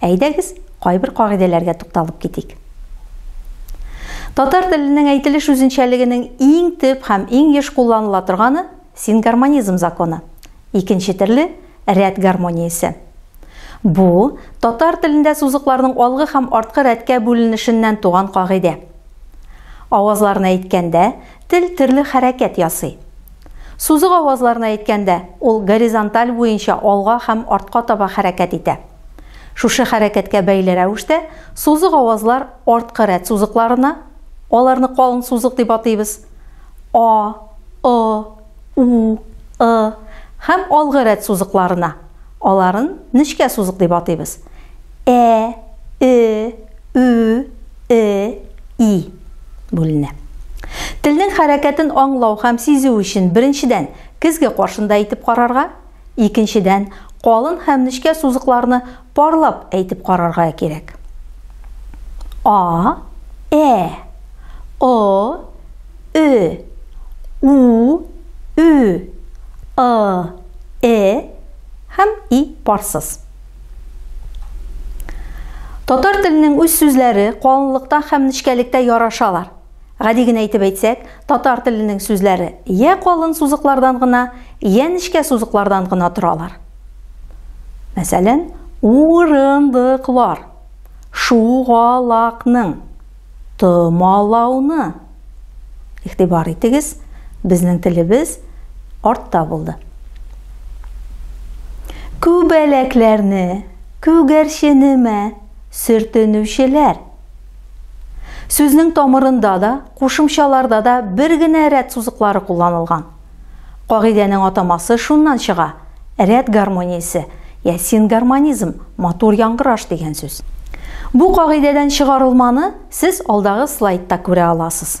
Әйдәгез, кайбер кагыйдәләргә тукталып китик. Татар теленең әйтелеш үзенчәлегенең иң төп һәм иң еш кулланыла торганы сингармонизм законы. Икенче төрле, рәт гармониясе. Бу, татар телендә сузыкларның алгы һәм арткы рәткә бүленешеннән туган кагыйдә. Авазларны әйткәндә, Тел төрле хәрәкәт ясый. Сузык авазларны әйткәндә, ул горизонталь буенча алга һәм артка таба хәрәкәт итә. Шушы хәрәкәткә бәйле рәвештә сузык авазлар арткы рәт сузыкларына, аларны калын сузык дип атыйбыз, а, ы, у, ы һәм алгы рәт сузыкларына. Аларын нечкә сузык дип атыйбыз. Ә, э, ү, э, и бүленә. Телнең хәрәкәтен аңлау һәм сизү өчен беренчедән көзге каршында итеп карарга, Икенчедән, калын һәм нечкә сузыкларны парлап әйтеп карарга кирәк. А, ә, о, ө, у, ө, ы, э һәм и парсыз. Татар теленең үз сүзләре калынлыкта һәм нечкәлектә ярашалар. Гади генә итеп әйтсәк, татар теленең сүзләре йә калын сузыклардан гына, йә нечкә сузыклардан гына торалар. Мәсәлән, урындыклар, шугалакның, томалауны. Игътибар итегез, безнең телебез артта булды. Күбәләкләрне, күгәрченеме, сөртенүчеләр. Сүзнең тамырында да, кушымчаларда да бер генә рәт сузыклары кулланылган. Кагыйдәнең атамасы шуннан чыга, рәт гармониясе, я сингармонизм, матур яңгыраш дигән сүз. Бу кагыйдәдән чыгарылманы сез алдагы слайдта күрә аласыз.